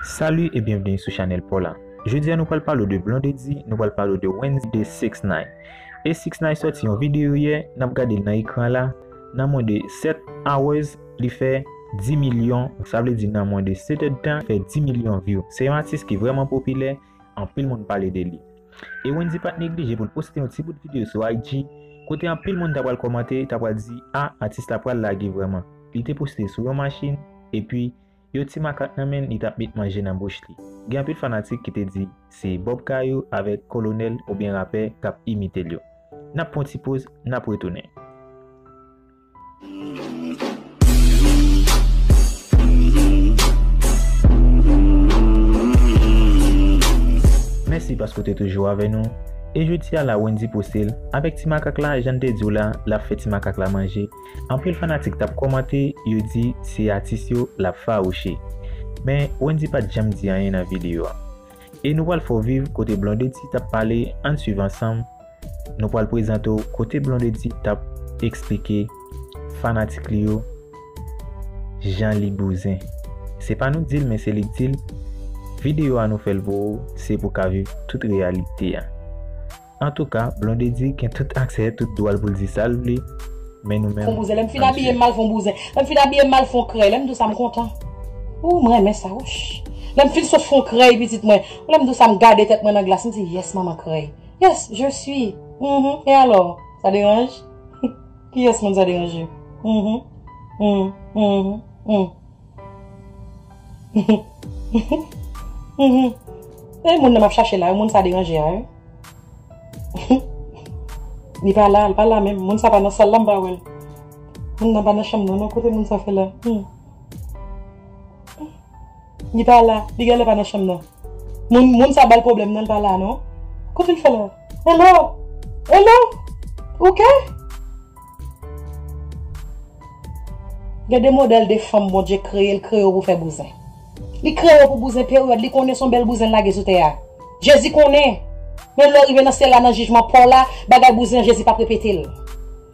Salut e byenvni sou chanèl paw la Jodia nou pral pale w de Blondedy nou pral pale w de Wendy 6 9 e 6 9 sòti yon video yè nap gade l nan ekran la nan mwen de 7 hours li fè 10 milyon sa vle di nan mwen de 7 èd tan li fè 10 milyon view se yon atis ki vrèman popilè anpil moun pale de li e Wendy pat neglije pou l poste yon ti bout video sou IG kote anpil moun ta pral kòmante ta pral di ah atis la pral lage vrèman li te poste sou yon machin epi Yo ti makak nan men li tap met manje nan bouch li. Gen anpil fanatik ki te di se Bob Kayou avèk Kolonèl oubyen rapè kap imite l yo. Nap pran yon ti poz, nap retounen. Mèsi paske w te toujou avè nou e jodi a la Wendy pose l avèk ti makak la jan n te di w la lap fè ti makak la manje. Anpil fanatik tap kòmante yo di se atis yo lap fawouche. Men Wendy pat janm di anyen nan video an. E nou pral fè w viv kote Blondedy tap pale ann swiv ansanm nou pral prezante w kote Blondedy tap eksplike fanatik li yo jan li bouzen. Se pa nou di l men se li k di l, video a nou fè l pou ou se pou ka viv tout reyalite an. Antouka Blondedy gen tout aksè tout dwal poul di sal vle men nou menm Fon bouzen lèm fin abiyem mal fon bouzen lèm fin abiyem mal fon krèy lèm dousa m kontan ooh m renmen sa wouch lèm fin sot fon krèy pitit mwen ooh lèm dousa m gade tèt mwen nan glas m di yes manman krèy yes je suis humm et alors sa deranj kiyès moun sa deranje humm humm humm humm. Ey moun nan map chache la yo moun sa deranje a wi li pa la li pa la menm moun sa pa nan sal la m pa wèl moun nan pa nan chanm nan non kote moun sa fè la li pa la li genlè pa nan chanm nan moun sa bal problèm nan li pa la non kote l fè la. Hello Hello Ok Gen de modèl de fanm Bondye kreye, l kreye yo pou fè bouzen. Li kreye yo pou bouzen peryòd, li konnen se yon bèl bouzen l lage sou tè a. Jezi konnen, men lè w rive nan syèl la nan jijman pa w la, bagay bouzen an Jezi p ap repete l.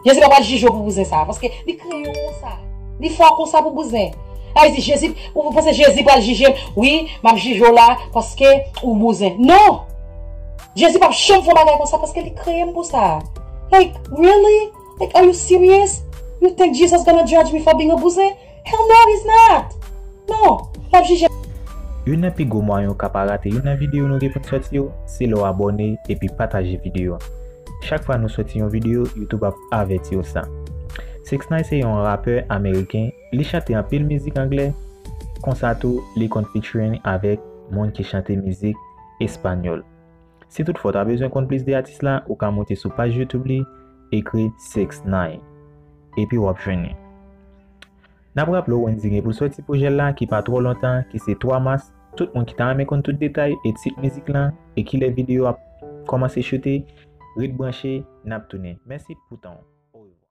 Jezi pa pral jije w pou bouzen sa a, paske li kreye w konsa. Li fè w konsa pou bouzen. Lè li di Jezi, ou panse Jezi pral jije m, wi, m ap jije w la a paske ou bouzen. Non! Jezi p ap janm fè yon bagay konsa paske li kreye m pou sa. Like, really? Like, are you serious? You think Jesus gonna judge me for being a bouzen? Hell no he's not! Non, m pap jije. Youn nan pi gwo mwayen ou ka pa rate youn nan videyo nou gen pou n sòti yo, se lè w abòne epi pataje videyo an. Chak fwa nou sòti yon videyo, YouTube ap avèti w sa. 6 ix-Nine se yon rapè ameriken, li chante anpil mizik anglè, konsa tou li konn featuring avèk moun ki chante mizik espanyòl. Si tout fwa w ta bezwen konn plis de atis la ou ka moute sou paj youtube li ekri 6ix9ine epi wap jwenn li. Nap raple w Wendyy gen pou l sòti pwojè l la ki pa twò lontan ki se 3 mas tout moun ki ta renmen konn tout detay e tit mizik lan e kilè videyo ap kòmanse choute ret branche nap tounen mèsi pou tan w.